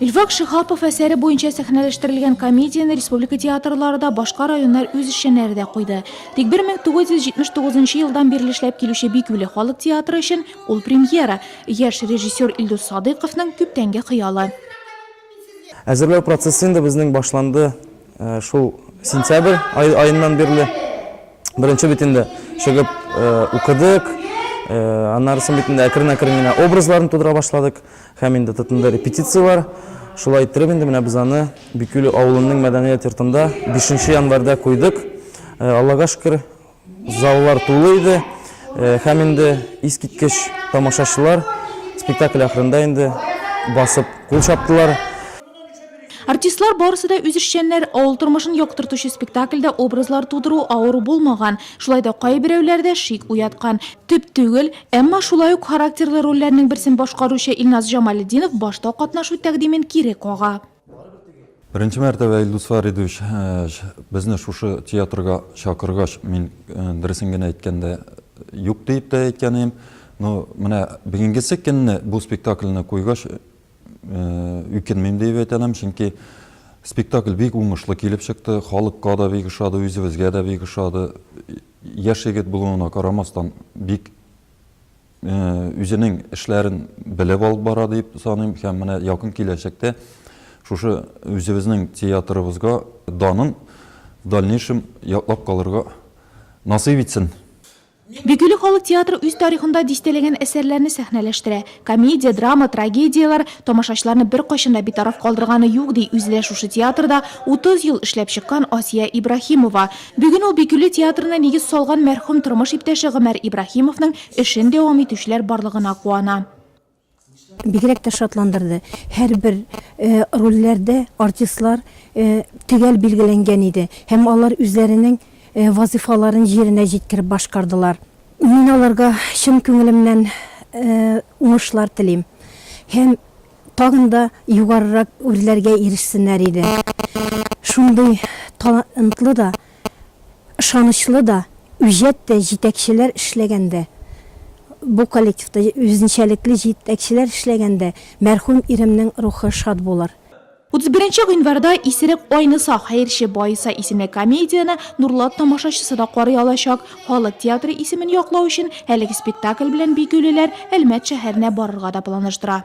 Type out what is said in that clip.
Илфак Шихапов әсәре буенча сәхнәләштерелгән комедияне республика театрлары да, башка районнар үз эшчәннәре дә куйды. Тик 1979 елдан бирле эшләп килүче Бикүле халык театры өчен ул премьера, яшь режиссер Илдус Садыйковның күптәнге хыялы. Әзерләү процессы инде безнең башланды э, шул сентябрь аеннан бирле. Беренче бит инде чыгып э, укыдык, э, аннары соң бит инде әкрен-әкрен генә образларын тудыра башладык. Һәм инде тотынды репетицияләр. Шулай иттереп инде менә без аны Бикүле авылының мәдәният йортында бишенче январьдә куйдык. Аллага шөкер, заллар тулы иде. Һәм инде искиткеч тамашачылар спектакль ахырында инде басып кул чаптылар. Артистлар барысы да үз эшчәннәр, авыл тормышын яктыртучы спектакльдә образлар тудыру авыр булмаган, шулай да кайберәүләрдә шик уяткан. Төп түгел, әмма шулай ук характерлы рольләрнең берсен башкаручы Илназ Җамалетдинов башта катнашу тәкъдимен кире кага. Беренче мәртәбә Илдус Фәридович безне шушы театрга чакыргач, мин, дөресен генә әйткәндә, юк диеп тә әйткән идем. Но менә бүгенгесе көнне бу спектакльне куйгач, үкенмим диеп әйтә алам, чөнки спектакль бик уңышлы килеп чыкты, халыкка да бик ошады, үзебезгә дә бик ошады. Яшь егет булуына карамастан, бик үзенең эшләрен белеп алып бара дип саныйм һәм менә якын киләчәктә шушы үзебезнең театрыбызга данын в дальнейшем яклап калырга насыйп итсен. Бөкеле халык театры үз тарихында дистәләгән әсәрләрне сәхнәләштерә. Комедия, драма, трагедияләр, тамашачыларны беркайчан да битараф калдырганы юк, ди үзе дә шушы театрда 30 ел эшләп чыккан Асия Ибраһимова. Бүген ул Бөкеле театрына нигез салган мәрхүм тормыш иптәше Гомәр Ибраһимовның эшен дәвам итүчеләр барлыгына куана. Бигрәк тә шатландырды. Һәрбер рольләрдә артистлар төгәл билгеләнгән иде һәм алар үзләренең вазыйфаларын җиренә җиткереп башкардылар. Мин аларга чын күңелемнән уңышлар телим һәм тагын да югарырак үрләргә ирешсеннәр иде. Шундый талантлы да, ышанычлы да, үҗәт тә җитәкчеләр эшләгәндә, бу коллективта үзенчәлекле җитәкчеләр эшләгәндә мәрхүм иремнең рухы шат булыр. Утыз беренче гыйнварда Исерек айныса, хәерче баеса исемле комедияне Нурлат тамашачысы да карый алачак. Халык театры исемен яклау өчен әлеге спектакль белән бигүлеләр Әлмәт шәһәренә барырга да планлаштыра.